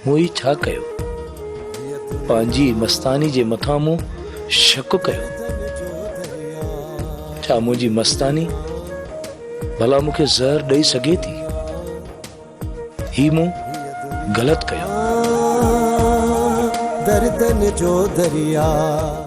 مون هي ڇا ڪيو؟ پنهنجي مستاني جي مٿان مون شڪ ڪيو. ڇا منهنجي مستاني ڀلا مون کي زهر ڏئي سگهي ٿي؟ هي مون غلط ڪيو. دردن جو درياء.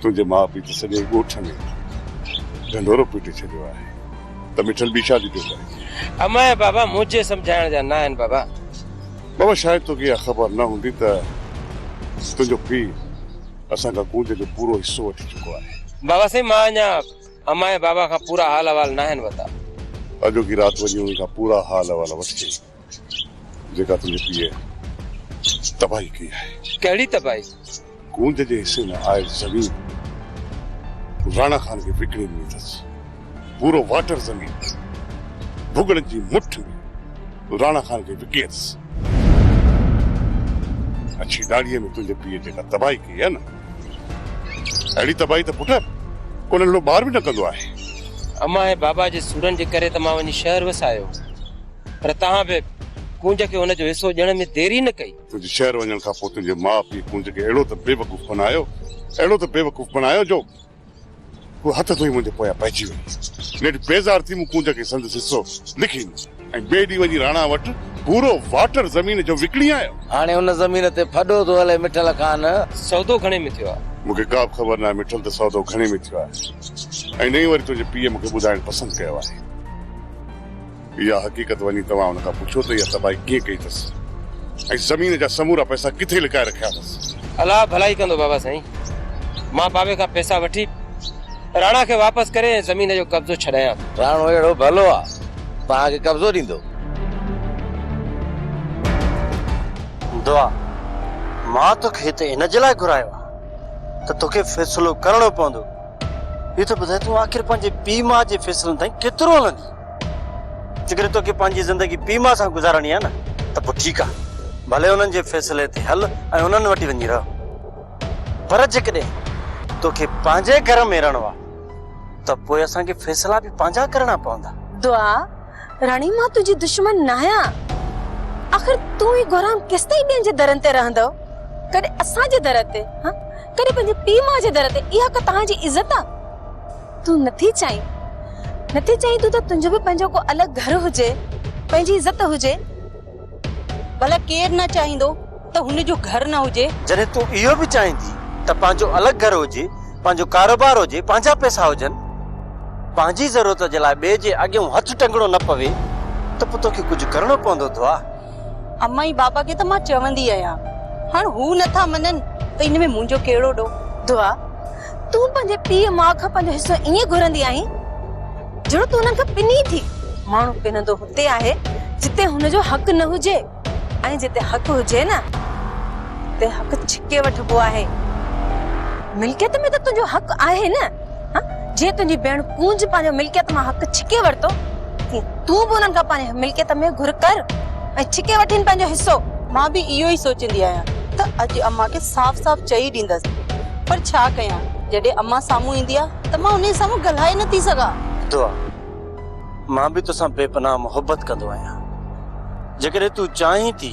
تنهنجي ماء پيء ته سڄي ڳوٺ ۾ ڍنڍورو پٽي ڇڏيو آهي ته مٺل ٻي شادي پيو ڪرين. امايان، بابا منهنجي سمجهائڻ جا ناهن بابا. بابا شايد توکي اها خبر نه هوندي ته تنهنجو پيء اسان کان ڪونج جو پورو حصو وٺي چڪو آهي. بابا سائين مان اڃا امايان بابا کان پورا حال احوال ناهن وتا. اڄوڪي رات وڃي انهن کان پورا حال احوال وٺجي. جيڪا تنهنجي پيء تباهي ڪئي آهي. ڪهڙي تباهي؟ گونج جي حصي ۾ آيل زمين راڻا خان کي وڪڻي ڏني اٿس. پورو واٽر زمين ڀڳڙن جي مٺ راڻا خان کي وڪي اٿس. اڇي ڏاڙهيء ۾ تنهنجي پيء جيڪا تباهي ڪئي آهي نه، اهڙي تباهي ته پٽ ڪو ننڍڙو ٻار به نه ڪندو آهي. امان ۽ بابا جي سورن جي ڪري ته مان وڃي شهر وسايو. پر تنهن به ڪونج کي ان جو حصو ڏيڻ ۾ ديري نه ڪئي. تنهنجي شهر وڃڻ کان پوء تنهنجي ماء پيء ڪونج کي اهڙو ته بيوقوف بنايو، اهڙو ته بيوقوف بنايو جو هوء هٿ ڌوئي منهنجي پويان پئجي وئي. نيٺ بيزار ٿي مون ڪونج کي سندس حصو لکي ڏنو ۽ ٻئي ڏينهن وڃي راڻا وٽ پورو واٽر زمين جو وڪڻي آيو. هاڻي ان زمين تي ڦڏو ٿو هلي مٺل خان! سودو گهڻي ۾ ٿيو آهي؟ مون کي ڪابه خبر ناهي مٺل ته سودو گهڻي ۾ ٿيو آهي ۽ نه ئي وري تنهنجي پيء مون کي ٻڌائڻ پسند ڪيو آهي. اها حقيقت وڃي توهان هن کان پڇو ته اها تباهي ڪيئن ڪئي اٿس ۽ زمين جا سمورا پئسا ڪٿي لڪائي رکيا اٿس. الله ڀلائي ڪندو بابا سائين. مان بابي کان پئسا وٺي راڻا کي واپس ڪري ۽ زمين جو قبضو ڇڏايان ٿو. راڻو اهڙو ڀلو آ توهان کي قبضو ڏيندو. دعا، مان توکي هتي ان جي لاء گهرايو آ ته توکي فيصلو ڪرڻو پوندو. اهو ته ٻڌاء تون آخر پنهنجي پيء ماء جي فيصلن تائين ڪيترو هلندين. جيڪڏهن توکي پنهنجي زندگي پيما سان گذارڻي آهي نه ته پوء ٺيڪ آهي، ڀلي انهن جي فيصلي تي هل ۽ انهن وٽ ئي وڃي رهه. پر جيڪڏهن توکي پنهنجي گهر ۾ رهڻو آهي ته پوء اسان کي فيصلا به پنهنجا ڪرڻا پوندا. دعا، راڻي مان تنهنجي دشمن ناهيان. آخر تون هي گهرام ڪيستائين ٻين جي درن تي رهندو؟ ڪڏهن اسان جي در تي، ها ڪڏهن پنهنجي پيما جي در تي، اها ڪا توهان جي عزت آهي؟ تون نٿي چاهين نٿي چاهين تون ته تنهنجو به پنهنجو ڪو الڳ گهر هجي پنهنجي عزت هجي ڀلا ڪير نه چاهيندو ته هن جو گهر نه هجي. جڏهن تون اهو به چاهين ٿي ته پنهنجو الڳ گهر هجي پنهنجو ڪاروبار هجي پنهنجا پئسا هجن پنهنجي ضرورت جي لاء ٻئي جي اڳيون هٿ ٽنگڻو نه پوي ته پوء توکي ڪجهه ڪرڻو پوندو دعا. اما ۽ بابا کي ته مان چوندي آهيان هاڻ هو نٿا مڃن ته ان ۾ منهنجو ڪهڙو ڏو دعا تون پنهنجي پيء ماء کان پنهنجو حصو ائين گهرندي آهين جهڙو تون انهن کان پني ٿي ماڻهو پنندو هتي آهي جتي هن جو حق نه هجي ۽ جتي حق هجي نه اتي حق ڇڪي وٺبو آهي ملڪيت ۾ ته تنهنجو حق آهي نه ها جي تنهنجي ڀيڻ ڪونج پنهنجو ملڪيت مان حق ڇڪي ورتو تي تون به انهن کان پنهنجي ملڪيت ۾ گهر ڪر ۽ ڇڪي وٺين پنهنجو حصو مان به اهو ئي سوچيندي آهيان ته اڄ امان کي صاف صاف چئي ڏيندس پر ڇا ڪيان جڏهن امان سامهون ايندي آهي ته مان انهي سامهون ڳالهائي نه ٿي سگهان. دعا مان به توسان بي پناهه محبت ڪندو آهيان جيڪڏهن تون چاهين ٿي.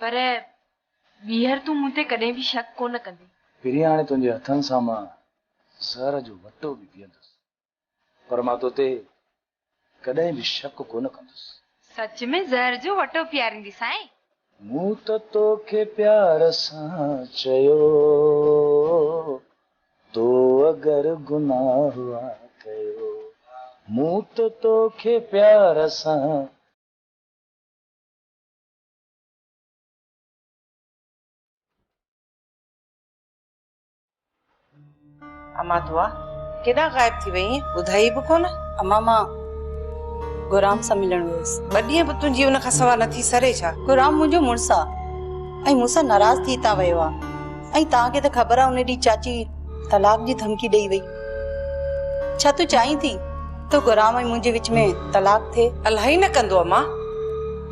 پر ٻيهر تون مون تي ڪڏهن به شڪ ڪونه ڪندين. پھرين هاڻي تنهنجي هٿن سان مان زهر جو وٽو به پيئندس، پر مان تو تي ڪڏهن به شڪ ڪونه ڪندس. سچ ۾ زهر جو وٽو پياريندين سائين؟ مون ته توکي پيار سان چيو، تو اگر گناهه ها ڪيو، مون ته توکي پيار سان. امان دعا ڪيڏانهن غائب ٿي وئي آهين ٻڌائي به ڪونه اما مان غرام سان ملڻ ويس ٻه ڏينهن به تنهنجي ان کان سوا نٿي سري ڇا غرام منهنجو مڙس آ ۽ مون سان ناراض ٿي تان ويو آ ۽ تان کي ته خبر آ ان ڏينهن چاچي طلاق جي ڌمڪي ڏئي وئي ڇا تون چاهين ٿي ته گرام ۽ منهنجي وچ ۾ طلاق ٿئي؟ الاهي نه ڪندو اما،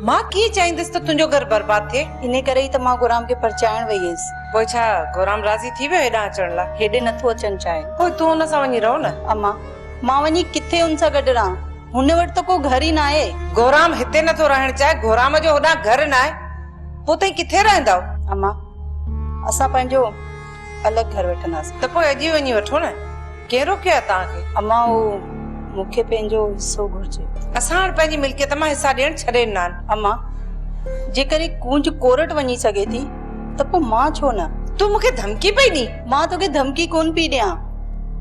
مان ڪيئن چاهيندس ته تنهنجو گهر برباد ٿئي. انهي ڪري ئي ته مان گرام کي پرچائڻ وئي هيس. پوء ڇا گرام راضي ٿي ويو هيڏانهن اچڻ لاء؟ هيڏي نه ٿو اچڻ چاهي. پوء تون هن سان وڃي رهو نه. اما، مان وڃي ڪٿي هن سان گڏ رهان؟ هن وٽ ته ڪو گهر ئي ناهي. گرام هتي نه ٿو رهڻ چاهي، گرام جو هوڏانهن گهر ناهي، پوء توهين ڪٿي رهندؤ؟ اما، اسان پنهنجو الڳ گهر وٺنداسين. ته پوء اڄ ئي وڃي وٺو نه. ڪنهن روڪيو آهي توهان کي؟ امان اهو مون کي پنهنجو حصو گهرجي. اسان هاڻ پنهنجي ملڪيت مان حصا ڏيڻ ڇڏي ڏنا آهن. امان، جيڪڏهن ڪونج ڪورٽ وڃي سگهي ٿي ته پوء مان ڇو نه؟ تون مون کي ڌمڪي پئي ڏين؟ مان توکي ڌمڪي ڪونه پئي ڏيان.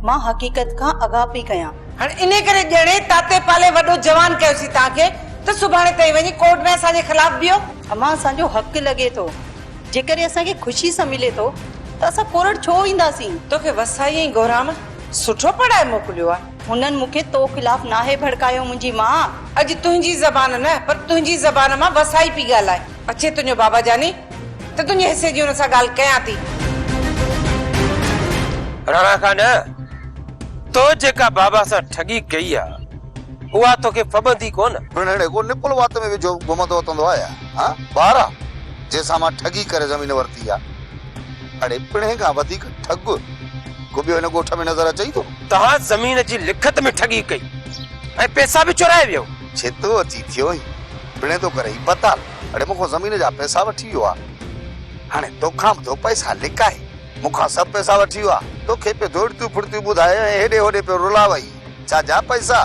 مان حقيقت کان آگاهه پئي ڪيان. هاڻ انهي ڪري ڄڻي تاتي پالي وڏو جوان ڪيوسين توهان کي ته سڀاڻي تائين وڃي ڪورٽ ۾ اسان جي خلاف بيهو. امان اسان جو حق لڳي ٿو. جيڪڏهن اسان کي خوشي سان ملي ٿو ته اسان ڪورڙ ڇو اينداسين؟ توکي وسائي ۽ گهرام سٺو پڙهائي موڪليو آ. هنن مون کي تو خلاف ناهي ڀڙڪايو منهنجي ماء! اڄ تنهنجي زبان نه پر تنهنجي زبان مان وسائي پي ڳالهائي. اچي تنهنجو بابا جاني ته تنهنجي حصي جي هن سان ڳالهه ڪيان ٿي. راڻا کان نه، تو جيڪا بابا سان ٺڳي ڪئي آ اها توکي ڦٻندي ڪونه. پڻ هن ڪو نپل وات ۾ وجهو گهمندو وتندو آيا. ها ٻارا، جنهن سان مان ٺڳي ڪري زمين ورتي آ. اڙي پڻهين کان وڌيڪ ٺڳ ڪو ٻيو هن ڳوٺ ۾ نظر اچئي ٿو؟ توهان زمين جي لکت ۾ ٺڳي ڪئي ۽ پئسا به چورائي ويئو. ڇتو اچي ٿيو هين، پڻهين تو ڪري هي بتال، اڙي مون کان زمين جا پئسا وٺي ويو آ. هاڻي توکان به ٿو پئسا لڪائي. مون کان سڀ پئسا وٺي ويو آ. توکي پيو دوڙتيون ڦڙتيون ٻڌائي ۽ هيڏي هوڏي پيو رلاوئي. ڇا جا پئسا؟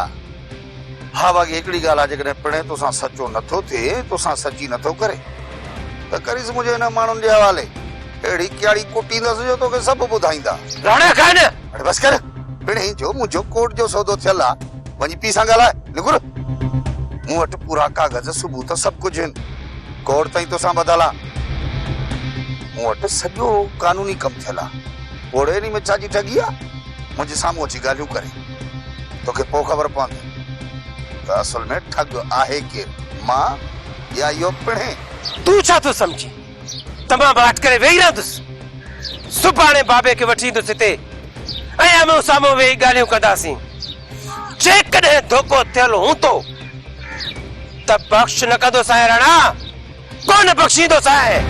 ها باغي هڪڙي ڳالهه آ جيڪڏهن پڻهين توسان سچو نه ٿو ٿئي ۽ توسان سچي نه ٿو ڪري ته ڪريس منهنجي انهن ماڻهن جي حوالي اهڙي ڪياڙي ڪٽيندس جو توکي سڀ ٻڌائيندا. راڻا خان! اڙي بس ڪر پڻهين جو منهنجو ڪورٽ جو سودو ٿيل آ وڃي پيء سان ڳالهاء نگور مون وٽ پورا ڪاغذ ثبوت سڀ ڪجهه هن ڪورٽ تائين توسان ٻڌل آ مون وٽ سڄو قانوني ڪم ٿيل آ پوڙهي انهي ۾ ڇا جي ٺڳي آ منهنجي سامهون اچي ڳالهيون ڪري. توکي پوء خبر پوندي ته اصل ۾ ٺڳ آهي ڪير، مان يا اهو پڻهين؟ تون ڇا ٿو سمجهين ته مان به هٺ ڪري ويهي رهندس. سڀاڻي بابي کي وٺي ايندس هتي ۽ آمهون سامهون ويهي ڳالهيون ڪنداسين. جيڪڏهن ڌوڪو ٿيل هوندو ته بخش نه ڪندو سائين راڻا. ڪونه بخشيندو سائين.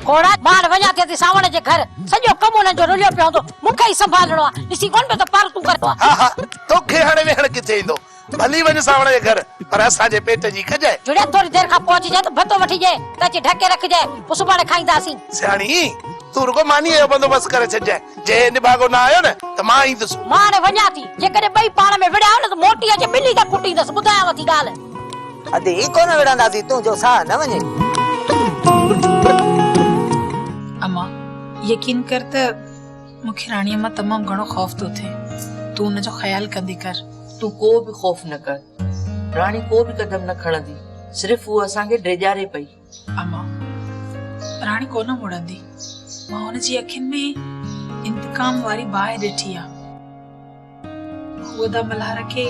گهوڙا ٻاهر وڃان ٿي ته سانوڻ جي گهر سڄو ڪم انهن جو رليو پيو هوندو. مون کي ئي سنڀالڻو آهي. ڏسين ڪونه پيو ته پر تون ڪربو آهي. ها ها توکي هاڻي ويهڻ ڪٿي ايندو. ڀلي وڃ سانوڻ جي گهر پر اسان جي پيٽ جي ڪجء. جڙيا ٿوري دير کان پهچجئي ته ڀتو وٺجئي ته اچي ڍڪي رکجئي. پوء سڀاڻي کائينداسين. سياڻي! تون رڳو مانيء جو بندوبست ڪري ڇڏجانء، جي هي نڀاڳو نه آيو نه ته مان ايندس. مان هاڻي وڃان ٿي، جيڪڏهن ٻئي پاڻ ۾ وڙهيا نه ته موٽي اچي ٻلي کي ڪٽيندس، ٻڌايانو ٿي ڳالهه. ادي هي ڪونه وڙهنداسين، تون جو ساهه نه وڃي. اما، يقين ڪر ته مون کي راڻيء مان تمام گهڻو خوف ٿو ٿئي، تون ان جو خيال ڪندي ڪر. تون ڪو به خوف نه ڪر، راڻي ڪو به قدم نه کڻندي، صرف هوء اسان کي ڊيڄاري پئي. اما، پر هاڻي ڪونه مڙندي. مان هن جي اکين ۾ انتقام واري باهه ڏٺي آ. هوء ادا ملهار کي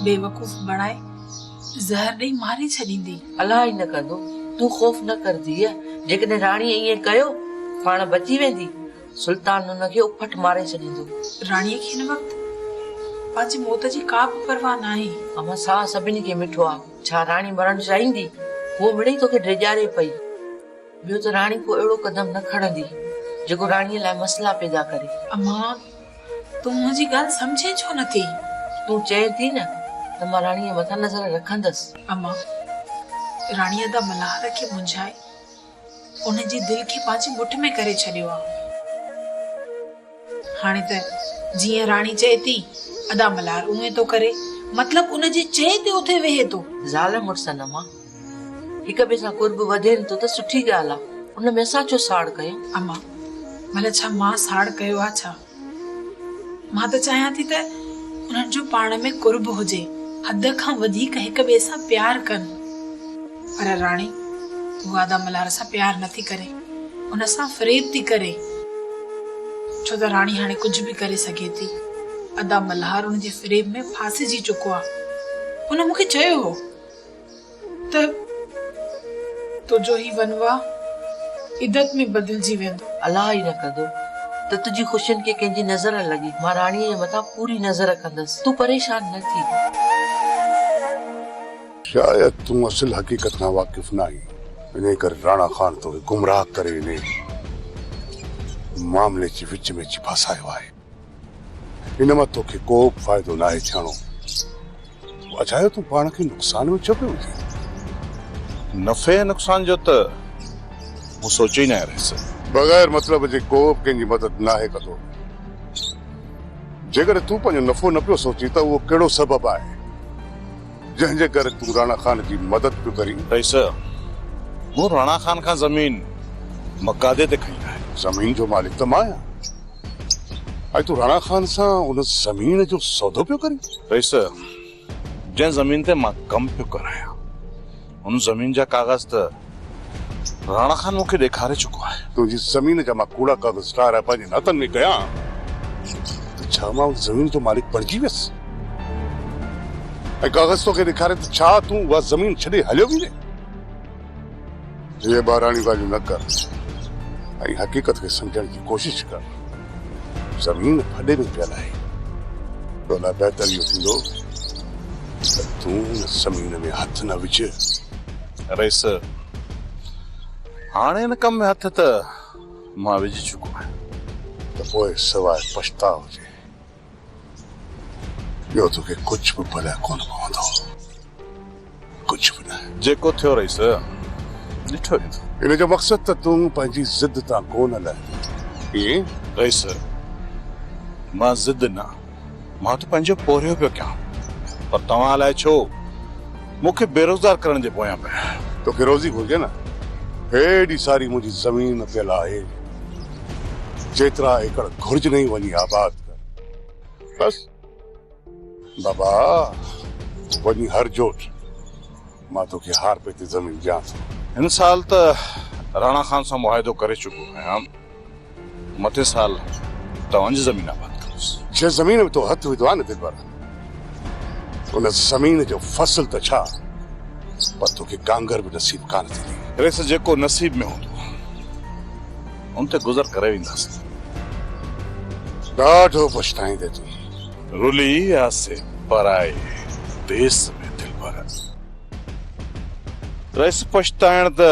بيوقوف بڻائي زهر ڏئي ماري ڇڏيندي. الله ائين نه ڪندو. تون خوف نه ڪر ڌيء. جيڪڏهن راڻي ائين ڪيو، پاڻ بچي ويندي. سلطان هن کي اڦٽ ماري ڇڏيندو. راڻيء کي هن وقت پنهنجي موت جي ڪا به پرواهه ناهي. اما، ساهه سڀني کي مٺو آ. ڇا راڻي مرڻ چاهيندي؟ هوء مڙئي توکي ڊيڄاري پئي. ٻيو ته راڻي ڪو اهڙو قدم نه کڻندي، جيڪو راڻيء لاء مسئلا پيدا ڪري. امان! تون منهنجي ڳالهه سمجهين ڇو نه ٿي؟ تون چئين ٿي نه ته مان راڻيء مٿان نظر رکندس. امان! راڻي ادا ملهار کي منجهائي ان جي دل کي پنهنجي مٺ ۾ ڪري ڇڏيو آ. هاڻي ته جيئن راڻي چئي ٿي، ادا ملهار اونئين ٿو ڪري. مطلب ان جي چئي تي اٿي ويهي ٿو. زال مڙسن امان هڪ ٻئي سان قرب وڌين ٿو ته سٺي ڳالهه آ. ان ۾ اسان ڇو ساڙ ڪيون؟ امان، ڀلا ڇا مان ساڙ ڪيو آ ڇا؟ مان ته چاهيان ٿي ته انهن جو پاڻ ۾ قرب هجي، حد کان وڌيڪ هڪ ٻئي سان پيار ڪن. پر راڻي، تون وادا ملهار سان پيار نه ٿي ڪرين، هن سان فريب ٿي ڪرين. ڇو ته راڻي هاڻي ڪجهه به ڪري سگهي ٿي. ادا ملهار ان جي فريب ۾ ڦاسجي چڪو آ. ان مون کي چيو هو. ته تنهنجو هي ونوا عدت ۾ بدلجي ويندو. الله ئي نه ڪندو ته تنهنجي خوشين کي ڪنهن جي نظر لڳي. مان راڻيء جي مٿان پوري نظر ڪندس. تون پريشان نه ٿي. شايد تون اصل حقيقت کان واقف نه آهين. انهيء ڪري راڻا خان توکي گمراهه ڪري انهيء معاملي جي وچ ۾ اچي ڦاسايو آهي. هن مان توکي ڪو به فائدو ناهي ڇاڻو. اجايو تون پاڻ کي نقصان ۾ ڇو پيو وجهين؟ نفعي ۽ نقصان جو ته مون سوچيو ئي ناهي رئيس. بغير مطلب جي ڪو به ڪنهن جي مدد ناهي ڪندو. جيڪڏهن تون پنهنجو نفعو نه پيو سوچين ته اهو ڪهڙو سبب آهي جنهن جي ڪري تون راڻا خان جي مدد پيو ڪرين؟ رئيس مون راڻا خان کان زمين مقادي تي کنئي آهي. زمين جو مالڪ ته مان آهيان. اڄ تون راڻا خان سان ان زمين جو سودو پيو ڪرين؟ رئيس صاحب، جنهن زمين تي مان ڪم پيو ڪرايان، ان زمين جا ڪاغذ ته راڻا خان مون کي ڏيکاري چڪو آهي. تنهنجي زمين جا مان ڪوڙا ڪاغذ ٺاهرائي پنهنجن هٿن ۾ ڪيان ته ڇا مان ان زمين جو مالڪ بڻجي ويس؟ ۽ ڪاغذ توکي ڏيکاري ته ڇا تون اها زمين ڇڏي هليو ويندين؟ هيء ٻاراڻيون ڳالهيون نه ڪر ۽ حقيقت کي سمجهڻ جي ڪوشش ڪر. زمين ڦڏي ۾ پيل آهي. تو لاء بهتر اهو ٿيندو ته تون ان زمين ۾ هٿ نه وجهه. رئيس، هاڻ ان ڪم ۾ هٿ ته مان وجهي چڪو آهيان. ته پوء سواء پڇتاء جي ٻيو توکي ڪجهه به ڀليا ڪونه پوندو. ڪجهه به نه. جيڪو ٿيو رئيس، ڏٺو هي نه. ان جو مقصد ته تون پنهنجي ضد تان ڪو نه لهندين. ائين؟ رئيس، مان ضد نه، مان ته پنهنجو پورهيو پيو ڪيان. پر توهان الائي ڇو مون کي بيروزگار ڪرڻ جي پويان پيا. توکي روزي گهرجي نه. هيڏي ساري منهنجي زمين پيل آهي. جيترا ايڪڙ گهرجنئي وڃي آباد ڪر. بس بابا وڃي هر جوٽ مان توکي هار پئي تي زمين ڏيان ٿو. هن سال ته راڻا خان سان معاهدو ڪري چڪو آهيان مٿين سال توهان جي زمين آباد ڪندس. جنهن زمين ۾ تو هٿ وڌو آهي نه دلبر ان زمين جو فصل ته ڇا پر توکي ڪانگر به نصيب ڪانه ٿيندي. ريس جيڪو نصيب ۾ هوندو ان تي گذر ڪري وينداسين. ڏاڍو پڇتائيندي تون. رلي آسي پرائي ديس ۾ دلبر. ريس پڇتائڻ ته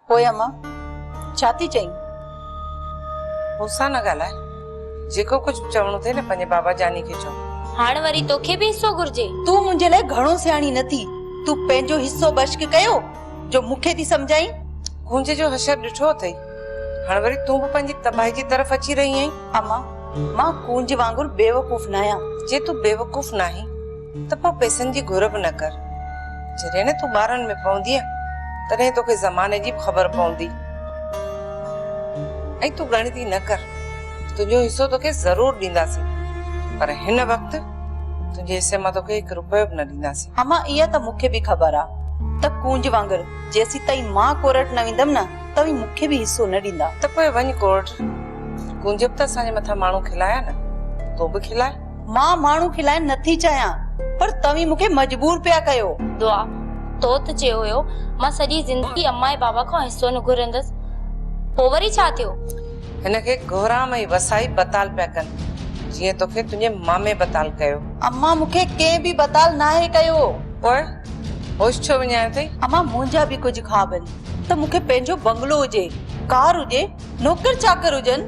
پوء امان ڇا ٿي چئين؟ مون سان نه ڳالهاء. جيڪو ڪجهه به چوڻو اٿئي نه پنهنجي بابا جاني کي چئو. هاڻ وري توکي به حصو گهرجي؟ تون منهنجي لاء گهڻو سياڻي نه ٿي. تون پنهنجو حصو بشڪ ڪيو جو مون کي ٿي سمجهائين. گونجي جو حشر ڏٺو اٿئي. هاڻ وري تون به پنهنجي تباهي جي طرف اچي رهي آهين. امان مان ڪونج وانگر بيوقوف ناهيان. جي تون بيوقوف ناهين ته پوء پئسن جي گهر به نه ڪر. جڏهن نه تون ٻارن ۾ پوندينء، تڏهن توکي زماني جي به خبر پوندي. ۽ تون ڳڻتي نه ڪر، تنهنجو حصو توکي ضرور ڏينداسين، پر هن وقت تنهنجي حصي مان توکي هڪ رپيو به نه ڏينداسين. اما اها ته مون کي به خبر آ ته ڪونج وانگر جيسيتائين مان ڪورٽ نه ويندم نه، توهين مون کي به حصو نه ڏيندا. ته پوء وڃ ڪورٽ. ڪونج به ته اسان جي مٿان ماڻهو کلايا نه، تون به کلاء. مان ماڻهو کلائڻ نه ٿي چاهيان پر توهين مون کي مجبور پيا ڪيو. دعا، تو ته چيو هيو مان سڄي زندگي امان ۽ بابا کان حصو نه گهرندس، پوء وري ڇا ٿيو؟ هن کي گهرام ۽ وسائي بتال پيا ڪن، جيئن توکي تنهنجي مامي بتال ڪيو. امان مون کي ڪنهن به بتال ناهي ڪيو. پوء هوش ڇو وڃايو اٿئي؟ امان منهنجا به ڪجهه خواب آهن ته مون کي پنهنجو بنگلو هجي، ڪار هجي، نوڪر چاڪر هجن.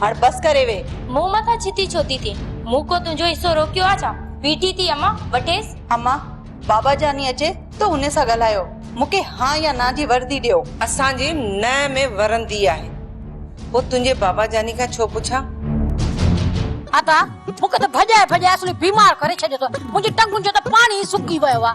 هاڻ بس ڪري ويهه. مون مٿان ڇتي ڇو ٿي ٿئين؟ مون ڪو تنهنجو حصو روڪيو آ ڇا؟ بيٺي ٿي امان، وٺيس. امان، بابا جاني اچي ته هن سان ڳالهايو. مون کي ها يا نا جي وردي ڏيو. اسان جي نه ۾ ورندي آهي. پوء تنهنجي بابا جاني کان ڇو پڇان؟ ادا، مون کي ته ڀڄائي ڀڄائي اصلي بيمار ڪري ڇڏيو اٿو. منهنجي ٽنگن جو ته پاڻي ئي سڪي ويو آ.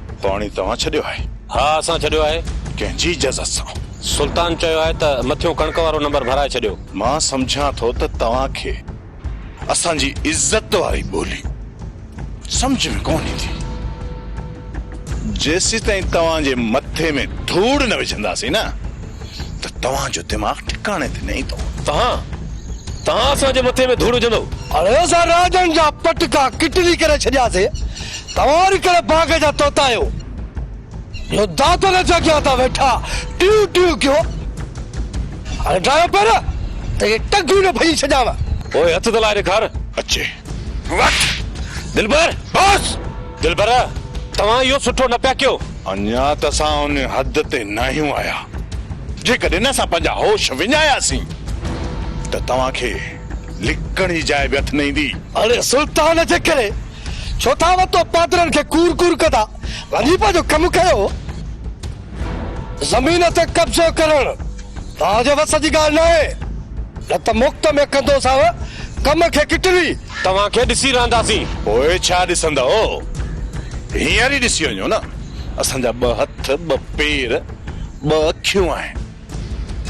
پاڻي توهان ڇڏيو آهي؟ ها اسان ڇڏيو آهي. ڪنهن جي اجازت سان؟ سلطان چيو آهي ته مٿيون ڪڻڪ وارو نمبر ڀرائي ڇڏيو. مان سمجهان ٿو ته توهان کي اسان جي عزت واري ٻولي سمجهه ۾ ڪونه ايندي. جيسيتائين توهان جي مٿي ۾ ڌوڙ نه وجهنداسين نه. ته توهان جو دماغ ٺڪاڻي تي نه ايندو. توهان توهان اسان جي مٿي ۾ ڌوڙ وجهندو. هاڻي اسان راڄن جا پٽڪا ڪٽلي ڪري ڇڏياسي، توهان وري ڪهڙي باغ جا طوطا آهيو، جو داتن جي اڳيان تان ويٺا ٽيون ٽيون ڪيو. هاڻي ڊاهيو پير ته اهي ٽنگون نه ڀڃي ڇڏيان. پوء هٿ ته لائي ڏيکار. اچي وٺ دلبر بس. دلبر توهان اهو سٺو نه پيا ڪيو. اڃا ته اسان ان حد تي ناهيون آيا. جيڪڏهن اسان پنهنجا هوش وڃاياسين ته توهان کي لڪڻ جي جاء به هٿ نه ايندي. اڙي سلطان جي ڪري ڇو ٿا وتو پادرن کي ڪور ڪور ڪندا. وڃي پنهنجو ڪم ڪيو. زمين تي قبضو ڪرڻ توهان جي وس جي ڳالهه ناهي، نه ته مفت ۾ ڪندوسانو ڪم کي ڪٽلي. توهان کي ڏسي رهنداسين. پوء ڇا ڏسندؤ؟ هينئر ئي ڏسي وڃو نه. اسان جا ٻه هٿ، ٻه پير، ٻه اکيون آهن،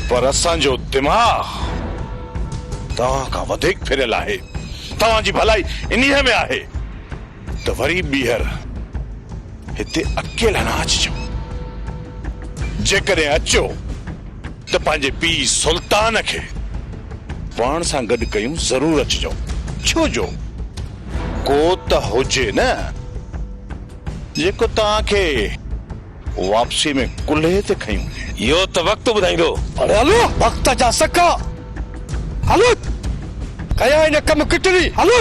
پر اسان جو دماغ توهان کان وڌيڪ ڦريل آهي. توهان جي ڀلائي انهيء ۾ آهي. ته وري ٻيهر هتي اڪيلا نه اچجو. جيڪڏهن اچيو ته پنهنجي پيء سلطان کي پاڻ سان گڏ ڪيون ضرور اچجو. ڇو جو ڪو ته هجي نه جيڪو توهان کي واپسيء ۾ ڪلهي تي کنيون. اهو ته وقت ٻڌائيندو. هاڻي هلو وقت جا سڪا. هلو ڪيا هن ڪم ڪٽري. هلو.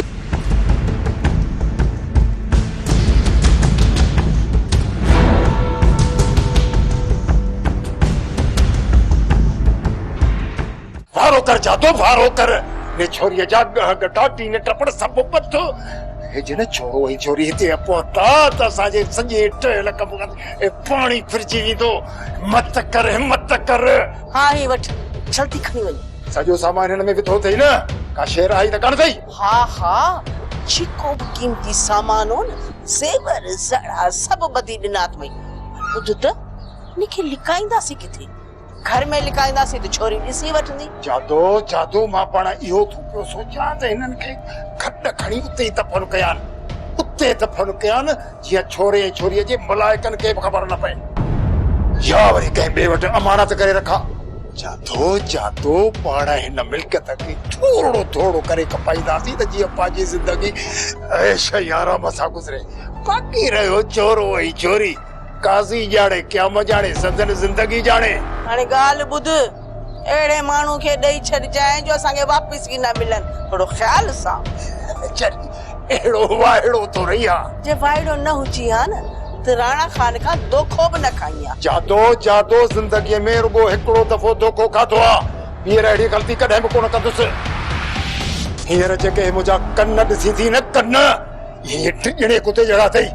وارو ڪر جادو وارو ڪر. ني ڇوريء جا ڳهه ڳٽا ٽين ٽپڙ سڀ پٿ. جڏهن ڇوهو ۽ ڇوري هتي پهتا ته اسان جي سڄي ٺهيل ڪم ڪار ۾ پاڻي ڦرجي ويندو. مت ڪر همت ڪر. ها هي وٺ جلدي کڻي وڃ. سڄو سامان هن ۾ وڌو اٿئي نه؟ ڪا شير آهي ته ڪانه اٿئي؟ ها ها جيڪو به قيمتي سامان هو نه زيور زڙا سڀ ٻڌي ڏنا اٿمئي. ٻڌ ته هن کي لڪائينداسين ڪٿي؟ گهر ۾ لڪائينداسين ته ڇوري ڏسي وٺندي. جادو، جادو، مان پاڻ اهو ٿو پيو سوچيان ته هنن کي کٽ کڻي اتي ئي دفن ڪيان. اتي دفن ڪيان جيئن ڇوري ۽ ڇوريء جي ملائڪن کي به خبر نه پئي. يا وري ڪنهن ٻئي وٽ امانت ڪري رکان. جادو، جادو، پاڻ هن ملڪيت کي ٿورڙو ٿورڙو ڪري کپائينداسين ته جيئن پنهنجي زندگي عيش ۽ آرام سان گذري. باقي رهيو ڇورو ۽ ڇوري. قاضي ڄاڻي قيامت ڄاڻي سندن زندگي ڄاڻي. هاڻي ڳالهه ٻڌ اهڙي ماڻهو کي ڏئي ڇڏجانء جو اسان کي واپس ئي نه ملن ٿورو خيال سان. چل اهڙو وائڙو ٿو رهي ها. جي وائڙو نه هجي ها نه ته راڻا خان کان دوکو به نه کائين ها. جادو جادو زندگي ۾ رڳو هڪڙو دفعو دوکو کاڌو ها ٻيهر اهڙي غلطي ڪڏهن به ڪونه ڪندس. هينئر جيڪي منهنجا ڪن ڏسين ٿي نه ڪن. اهي ٽي ڄڻي ڪتي جهڙا اٿئي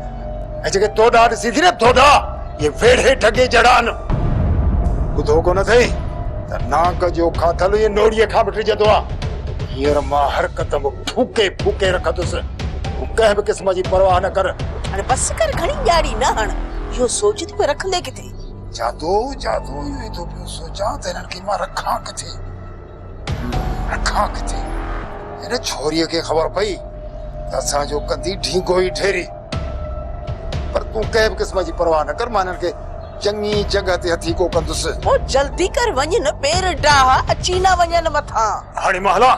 ۽ جيڪي تو ڏانهن ڏسي ٿي نه ٿوڏا اهي ويڙهي ڍڳي جهڙا آهن ٻڌو ڪونه اٿئي ته نانگ جو کاٿل اهي نوڙيء کان به ڊڄندو آهي هينئر مان هر قدم ڦوڪي ڦوڪي رکندس تون ڪنهن به قسم جي پرواهه نه ڪر هاڻي بس ڪر گهڻي ڄاڙي نه هڻ اهو سوچ ته پوء رکندي ڪٿي؟ جادو جادو اهو ئي ٿو پيو سوچان ته هنن کي مان رکان ڪٿي؟ اکان ڪٿي هن ڇوريء کي خبر پئي ته اسان جو ڪندي ڍينگو ئي ڍيري. پر تون ڪنهن به قسم جي پرواهه نه ڪر، مان هنن کي چڱي جڳهه تي هٿيڪو ڪندس. پوء جلدي ڪر وڃ نه پير ڊاهه اچي نه وڃن مٿان. هاڻي مان هلان؟